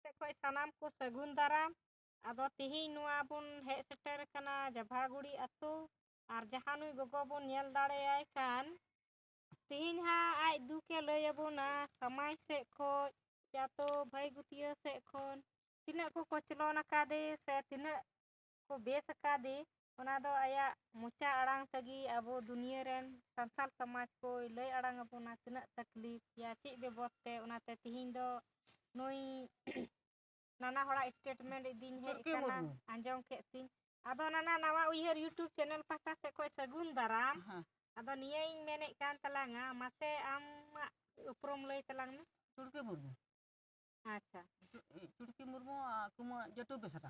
ᱥᱮᱫ ᱠᱷᱚᱱ ᱥᱟᱱᱟᱢ ᱠᱚ ᱥᱟᱹᱜᱩᱱ ᱫᱟᱨᱟᱢ ᱟᱫᱚ ᱛᱤᱦᱤᱧ ᱱᱚᱣᱟ ᱵᱚᱱ ᱦᱮᱡ ᱥᱮᱴᱮᱨ ᱟᱠᱟᱱᱟ ᱡᱟᱵᱷᱟᱜᱩᱲᱤ ᱟᱛᱳ ᱟᱨ ᱡᱟᱦᱟᱸ ᱱᱩᱭ ᱜᱚᱜᱚ ᱵᱚᱱ ᱧᱮᱞ ᱫᱟᱲᱮᱭᱟᱭ ᱠᱟᱱ ᱛᱤᱦᱤᱧ ᱦᱟᱸᱜ ᱟᱡ ᱫᱩᱠᱮ ᱞᱟᱹᱭ ᱟᱵᱚᱱᱟ ᱥᱟᱢᱟᱡᱽ ᱥᱮᱫ ᱠᱷᱚᱱ ᱪᱟᱛᱚ ᱵᱷᱟᱹᱭ ᱜᱩᱛᱤᱭᱟᱹ ᱥᱮᱫ ᱠᱷᱚᱱ ᱛᱤᱱᱟᱹᱜ ᱠᱚ ᱠᱚᱪᱞᱚᱱ ᱟᱠᱟᱫᱮ ᱥᱮ ᱛᱤᱱᱟᱹᱜ ᱠᱚ ᱵᱮᱥ ᱟᱠᱟᱫᱮ ᱚᱱᱟ ᱫᱚ ᱟᱭᱟᱜ ᱢᱚᱪᱟ ᱟᱲᱟᱝ ᱛᱮᱜᱮ ᱟᱵᱚ ᱫᱩᱱᱤᱭᱟᱹ ᱨᱮᱱ ᱥᱟᱱᱛᱟᱲ ᱥᱚᱢᱟᱡᱽ ᱠᱚᱭ ᱞᱟᱹᱭ ᱟᱲᱟᱝ ᱟᱵᱚᱱᱟ ᱛᱤᱱᱟᱹᱜ ᱛᱟᱠᱞᱤᱯ ᱭᱟ ᱪᱮᱫ ᱵᱮᱵᱚᱥ ᱛᱮ ᱚᱱᱟᱛᱮ ᱛᱤᱦᱤᱧ ᱫᱚ ᱱᱩᱭ ᱱᱟᱱᱟ ᱦᱚᱲᱟᱜ ᱥᱴᱮᱴᱢᱮᱱᱴ ᱤᱫᱤᱧ ᱦᱮᱡ ᱟᱠᱟᱱᱟ ᱟᱸᱡᱚᱢ ᱠᱮᱫ ᱛᱤᱧ ᱟᱫᱚ ᱱᱟᱱᱟ ᱱᱟᱣᱟ ᱩᱭᱦᱟᱹᱨ ᱭᱩᱴᱩᱵᱽ ᱪᱮᱱᱮᱞ ᱯᱟᱦᱴᱟ ᱥᱮᱫ ᱠᱷᱚᱱ ᱥᱟᱹᱜᱩᱱ ᱫᱟᱨᱟᱢ ᱟᱫᱚ ᱱᱤᱭᱟᱹᱧ ᱢᱮᱱᱮᱫ ᱠᱟᱱ ᱛᱟᱞᱟᱝᱟ ᱢᱟᱥᱮ ᱟᱢᱟᱜ ᱩᱯᱨᱩᱢ ᱞᱟᱹᱭ ᱛᱟᱞᱟᱝ ᱢᱮ ᱪᱩᱲᱠᱤ ᱢᱩᱨᱢᱩ ᱟᱪᱪᱷᱟ ᱪᱩᱲᱠᱤ ᱢᱩᱨᱢᱩ ᱠᱩᱢᱟᱹ ᱡᱟᱹᱴᱩ ᱵᱮᱥᱨᱟ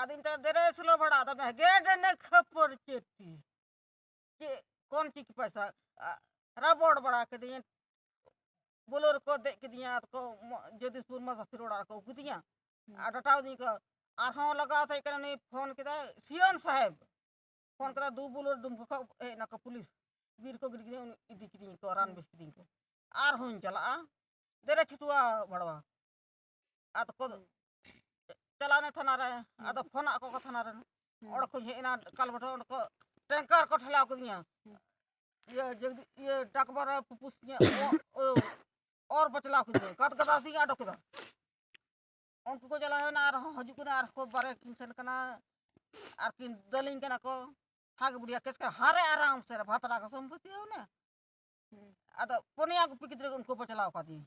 ᱟᱫᱚ ᱢᱮᱛᱟᱭ ᱫᱮᱨᱮ ᱥᱳᱞᱳ ᱵᱷᱟᱲᱟ ᱟᱫᱚ ᱜᱮ ᱰᱮᱱᱮ ᱠᱷᱟᱹᱯᱟᱹᱨ ᱪᱮᱫ ᱛᱤ ᱪᱮᱫ ᱠᱚᱱ ᱪᱤᱠᱤ ᱯᱚᱭᱥᱟ ᱨᱟᱵᱚᱲ ᱵᱟᱲᱟ ᱠᱤᱫᱤᱧᱟ ᱵᱳᱞᱳ ᱨᱮᱠᱚ ᱫᱮᱡ ᱠᱤᱫᱤᱧᱟ ᱟᱫᱚ ᱠᱚ ᱡᱚᱫᱤᱥᱯᱩᱨ ᱢᱟ ᱥᱟᱥᱤᱨ ᱚᱲᱟᱜ ᱨᱮᱠᱚ ᱟᱹᱜᱩ ᱠᱤᱫᱤᱧᱟ ᱟᱨ ᱰᱟᱴᱟᱣ ᱫᱤᱧ ᱠᱚ ᱟᱨᱦᱚᱸ ᱞᱟᱜᱟᱣ ᱛᱟᱦᱮᱸ ᱠᱟᱱᱟ ᱩᱱᱤ ᱯᱷᱳᱱ ᱠᱮᱫᱟᱭ ᱥᱤᱭᱚᱱ ᱥᱟᱦᱮᱵᱽ ᱯᱷᱳᱱ ᱠᱮᱫᱟ ᱫᱩ ᱵᱳᱞᱳ ᱰᱩᱢᱠᱚ ᱠᱷᱚᱱ ᱦᱮᱡ ᱱᱟᱠᱚ ᱯᱩᱞᱤᱥ ᱵᱤᱨ ᱠᱚ ᱜᱤᱰᱤ ᱠᱤᱫᱤᱧ ᱤᱫᱤ ᱠᱤᱫᱤᱧ ᱠᱚ ᱨᱟᱱ ᱵᱮᱥ ᱠᱤᱫᱤᱧ ᱠᱚ ᱟᱨᱦᱚᱸᱧ ᱪᱟᱞᱟᱜᱼᱟ ᱫᱮᱨᱮ ᱪᱷᱩᱴᱩᱣᱟ ᱵᱷᱟᱲᱣᱟ ᱟᱫᱚ ᱠᱚ ᱪᱟᱞᱟᱣᱱᱟ ᱛᱷᱟᱱᱟ ᱨᱮ ᱟᱫᱚ ᱯᱷᱳᱱ ᱟᱠᱚ ᱠᱚ ᱛᱷᱟᱱᱟ ᱨᱮᱱ ᱚᱸᱰᱮ ᱠᱷᱚᱱ ᱦᱮᱡ ᱮᱱᱟ ᱠᱟᱞᱵᱟᱴᱷᱟ ᱚᱸᱰᱮ ᱠᱚ ᱴᱮᱝᱠᱟᱨ ᱠᱚ ᱴᱷᱮᱞᱟᱣ ᱠᱮᱫᱤᱧᱟ ᱤᱭᱟᱹ ᱡᱚᱜᱫᱤ ᱤᱭᱟᱹ ᱰᱟᱠᱵᱟᱨ ᱨᱮ ᱯᱩᱯᱩᱥ ᱧᱮ ᱚᱨ ᱵᱟᱪᱞᱟᱣ ᱠᱮᱫᱤᱧᱟ ᱜᱟᱫ ᱜᱟᱫᱟ ᱥᱤᱧ ᱟᱰᱚ ᱠᱮᱫᱟ ᱩᱱᱠᱩ ᱠᱚ ᱪᱟᱞᱟᱣᱮᱱᱟ ᱟᱨᱦᱚᱸ ᱦᱤᱡᱩᱜ ᱠᱟᱱᱟ ᱟᱨ ᱠᱚ ᱵᱟᱨᱮ ᱠᱤᱱ ᱥᱮᱱ ᱠᱟᱱᱟ ᱟᱨ ᱠᱤᱱ ᱫᱟᱹᱞᱤᱧ ᱠᱟᱱᱟ ᱠᱚ ᱦᱟᱜ ᱵᱩᱲᱤᱭᱟ ᱠᱮᱥ ᱠᱟᱱᱟ ᱦᱟᱨᱮ ᱟᱨᱟᱢ ᱥᱮ ᱵᱷᱟᱛᱨᱟ ᱠᱚ ᱥᱚᱢᱯᱚᱛᱤ ᱦᱚᱸ ᱟᱫᱚ ᱯᱚᱱᱭᱟ ᱜᱩᱯᱤ ᱜᱤᱫᱽᱨᱟᱹ ᱩᱱᱠᱩ ᱵᱟᱪᱞᱟᱣ ᱠᱟᱫᱤᱧᱟ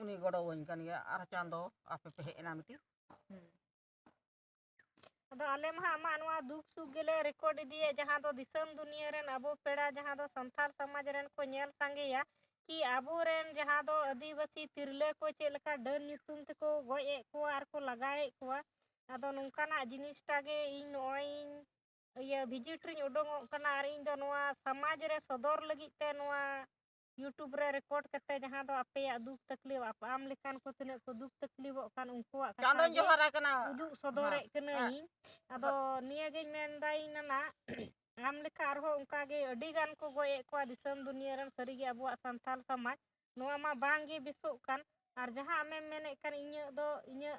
ᱩᱱᱤ ᱜᱚᱲᱚ ᱟᱹᱧ ᱠᱟᱱ ᱜᱮᱭᱟ ᱟᱨ ᱪᱟᱸᱫᱚ ᱟᱯᱮ ᱯᱮ ᱦᱮᱡ ᱮᱱᱟ ᱢᱤᱫᱴᱤᱡ ᱟᱫᱚ ᱟᱞᱮ ᱢᱟ ᱟᱢᱟᱜ ᱱᱚᱣᱟ ᱫᱩᱠ ᱥᱩᱠ ᱜᱮᱞᱮ ᱨᱮᱠᱚᱨᱰ ᱤᱫᱤᱭᱮ ᱡᱟᱦᱟᱸ ᱫᱚ ᱫᱤᱥᱚᱢ ᱫᱩᱱᱤᱭᱟᱹ ᱨᱮᱱ ᱟᱵᱚ ᱯᱮᱲᱟ ᱡᱟᱦᱟᱸ ᱫᱚ ᱥᱟᱱᱛᱟᱲ ᱥᱚᱢᱟᱡᱽ ᱨᱮᱱ ᱠᱚ ᱧᱮᱞ ᱥᱟᱸᱜᱮᱭᱟ ᱠᱤ ᱟᱵᱚᱨᱮᱱ ᱡᱟᱦᱟᱸ ᱫᱚ ᱟᱹᱫᱤᱵᱟᱹᱥᱤ ᱛᱤᱨᱞᱟᱹ ᱠᱚ ᱪᱮᱫ ᱞᱮᱠᱟ ᱰᱟᱹᱱ ᱧᱩᱛᱩᱢ ᱛᱮᱠᱚ ᱜᱚᱡ ᱮᱫ ᱠᱚᱣᱟ ᱟᱨ ᱠᱚ ᱞᱟᱜᱟᱭᱮᱫ ᱠᱚᱣᱟ ᱟᱫᱚ ᱱᱚᱝᱠᱟᱱᱟᱜ ᱡᱤᱱᱤᱥᱴᱟ ᱜᱮ ᱤᱧ ᱱᱚᱜᱼᱚᱭ ᱤᱭᱟᱹ ᱵᱷᱤᱡᱤᱴ ᱨᱤᱧ ᱩᱰᱩᱝᱚᱜ ᱠᱟᱱᱟ ᱟᱨ ᱤᱧ ᱫᱚ ᱱᱚᱣᱟ ᱥᱚᱢᱟᱡᱽ ᱨᱮ ᱥᱚᱫᱚᱨ ᱞᱟᱹᱜᱤᱫ ᱛᱮ ᱱᱚᱣᱟ ᱤᱭᱩᱴᱩᱵᱽ ᱨᱮ ᱨᱮᱠᱚᱨᱰ ᱠᱟᱛᱮ ᱡᱟᱦᱟᱸ ᱫᱚ ᱟᱯᱮᱭᱟᱜ ᱫᱩᱠ ᱛᱟᱠᱞᱤᱯ ᱟᱢ ᱞᱮᱠᱟᱱ ᱠᱚ ᱛᱤᱱᱟᱹᱜ ᱠᱚ ᱫᱩᱠ ᱛᱟᱠᱞᱤᱯᱚᱜ ᱠᱟᱱ ᱩᱱᱠᱩᱣᱟᱜ ᱪᱟᱸᱫᱚᱧ ᱡᱚᱦᱟᱨ ᱟᱠᱟᱱᱟ ᱩᱫᱩᱜ ᱥᱚᱫᱚᱨᱮᱫ ᱠᱟᱹᱱᱟᱹᱧ ᱟᱫᱚ ᱱᱤᱭᱟᱹᱜᱤᱧ ᱢᱮᱱᱫᱟ ᱤᱧ ᱱᱟᱱᱟ ᱟᱢ ᱞᱮᱠᱟ ᱟᱨᱦᱚᱸ ᱚᱱᱠᱟᱜᱮ ᱟᱹᱰᱤ ᱜᱟᱱ ᱠᱚ ᱜᱚᱡᱮᱫ ᱠᱚᱣᱟ ᱫᱤᱥᱚᱢ ᱫᱩᱱᱤᱭᱟᱹ ᱨᱮᱱ ᱥᱟᱹᱨᱤᱜᱮ ᱟᱵᱚᱣᱟᱜ ᱥᱟᱱᱛᱟᱲ ᱥᱚᱢᱟᱡᱽ ᱱᱚᱣᱟ ᱢᱟ ᱵᱟᱝᱜᱮ ᱵᱮᱥᱚᱜ ᱠᱟᱱ ᱟᱨ ᱡᱟᱦᱟᱸ ᱟᱢᱮᱢ ᱢᱮᱱᱮᱫ ᱠᱟᱱ ᱤᱧᱟᱹᱜ ᱫᱚ ᱤᱧᱟᱹᱜ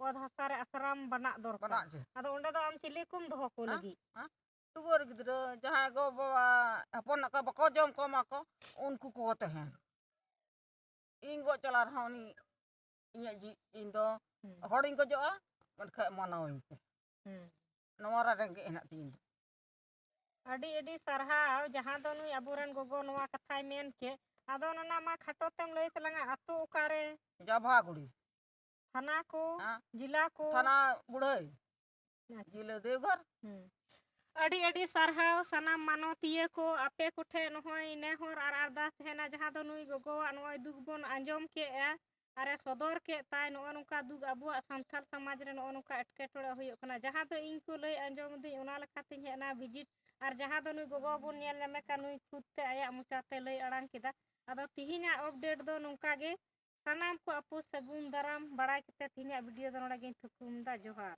ᱚᱛ ᱦᱟᱥᱟ ᱨᱮ ᱟᱥᱨᱟᱢ ᱵᱟᱱᱟᱜ ᱫᱚᱨᱠᱟᱨ ᱟᱫᱚ ᱚᱸᱰᱮ ᱫᱚ ᱟᱢ ᱪᱤᱞᱤ ᱠᱚᱢ ᱫᱚᱦᱚ ᱠᱚ ᱞᱟᱹᱜᱤᱫ ᱴᱩᱣᱟᱹᱨ ᱜᱤᱫᱽᱨᱟᱹ ᱡᱟᱦᱟᱸᱭ ᱜᱚ ᱵᱟᱵᱟ ᱦᱚᱯᱚᱱ ᱠᱚ ᱵᱟᱠᱚ ᱡᱚᱢ ᱠᱚ ᱮᱢᱟ ᱠᱚ ᱩᱱᱠᱩ ᱠᱚ ᱛᱟᱦᱮᱱ ᱤᱧ ᱜᱚᱡ ᱪᱟᱞᱟᱣ ᱨᱮᱦᱚᱸ ᱩᱱᱤ ᱤᱧᱟᱹᱜ ᱡᱤ ᱤᱧ ᱫᱚ ᱦᱚᱲᱤᱧ ᱜᱚᱡᱚᱜᱼᱟ ᱢᱮᱱᱠᱷᱟᱡ ᱢᱟᱱᱟᱣᱤᱧ ᱯᱮ ᱱᱚᱣᱟ ᱨᱮ ᱨᱮᱸᱜᱮᱡ ᱦᱮᱱᱟᱜ ᱛᱤᱧ ᱫᱚ ᱟᱹᱰᱤ ᱟᱹᱰᱤ ᱥᱟᱨᱦᱟᱣ ᱡᱟᱦᱟᱸ ᱫᱚ ᱱᱩᱭ ᱟᱵᱚᱨᱮᱱ ᱜᱚᱜᱚ ᱱᱚᱣᱟ ᱠᱟᱛᱷᱟᱭ ᱢᱮᱱ ᱠᱮᱫ ᱟᱫᱚ ᱚᱱᱟ ᱢᱟ ᱠᱷᱟᱴᱚ ᱛᱮᱢ ᱞᱟᱹᱭ ᱛᱟᱞᱟᱝᱟ ᱟᱛᱳ ᱚᱠᱟᱨᱮ ᱡᱟᱵᱷᱟᱜᱩᱲᱤ ᱛᱷᱟᱱᱟ ᱠᱚ ᱡᱮᱞᱟ ᱠᱚ ᱛᱷᱟᱱᱟ ᱵᱩᱲᱦᱟᱹᱭ ᱡᱤᱞᱟᱹ ᱫᱮᱣᱜᱷᱚᱨ ᱟᱹᱰᱤ ᱟᱹᱰᱤ ᱥᱟᱨᱦᱟᱣ ᱥᱟᱱᱟᱢ ᱢᱟᱱᱚᱛᱤᱭᱟᱹ ᱠᱚ ᱟᱯᱮ ᱠᱚᱴᱷᱮᱱ ᱱᱚᱜᱼᱚᱭ ᱱᱮᱦᱚᱨ ᱟᱨ ᱟᱨᱫᱟᱥ ᱛᱟᱦᱮᱱᱟ ᱡᱟᱦᱟᱸ ᱫᱚ ᱱᱩᱭ ᱜᱚᱜᱚᱣᱟᱜ ᱱᱚᱜᱼᱚᱭ ᱫᱩᱠ ᱵᱚᱱ ᱟᱸᱡᱚᱢ ᱠᱮᱜᱼᱟ ᱟᱨᱮ ᱥᱚᱫᱚᱨ ᱠᱮᱫ ᱛᱟᱭ ᱱᱚᱜᱼᱚ ᱱᱚᱝᱠᱟ ᱫᱩᱠ ᱟᱵᱚᱣᱟᱜ ᱥᱟᱱᱛᱟᱲ ᱥᱚᱢᱟᱡᱽ ᱨᱮ ᱱᱚᱜᱼᱚ ᱱᱚᱝᱠᱟ ᱮᱴᱠᱮᱴᱚᱬᱮ ᱦᱩᱭᱩᱜ ᱠᱟᱱᱟ ᱡᱟᱦᱟᱸ ᱫᱚ ᱤᱧ ᱠᱚ ᱞᱟᱹᱭ ᱟᱸᱡᱚᱢ ᱫᱤᱧ ᱚᱱᱟ ᱞᱮᱠᱟᱛᱤᱧ ᱦᱮᱡ ᱮᱱᱟ ᱵᱷᱤᱡᱤᱴ ᱟᱨ ᱡᱟᱦᱟᱸ ᱫᱚ ᱱᱩᱭ ᱜᱚᱜᱚ ᱵᱚᱱ ᱧᱮᱞ ᱧᱟᱢᱮ ᱠᱟᱱ ᱱᱩᱭ ᱠᱷᱩᱫ ᱛᱮ ᱟᱭᱟᱜ ᱢᱚᱪᱟᱛᱮ ᱞᱟᱹᱭ ᱟᱲᱟᱝ ᱠᱮᱫᱟ ᱟᱫᱚ ᱛᱤᱦᱤᱧᱟᱜ ᱟᱯᱰᱮᱴ ᱫᱚ ᱱᱚᱝᱠᱟ ᱜᱮ ᱥᱟᱱᱟᱢ ᱠᱚ ᱟᱯᱩ ᱥᱟᱹᱜᱩᱱ ᱫᱟᱨᱟᱢ ᱵᱟᱲᱟᱭ ᱠᱟᱛᱮ ᱛᱤᱦᱤᱧᱟᱜ ᱵᱷᱤᱰᱤᱭᱳ ᱫᱚ ᱱᱚᱰᱮ ᱜᱤᱧ ᱛᱷᱩᱠᱩᱢ ᱮᱫᱟ ᱡᱚᱦᱟᱨ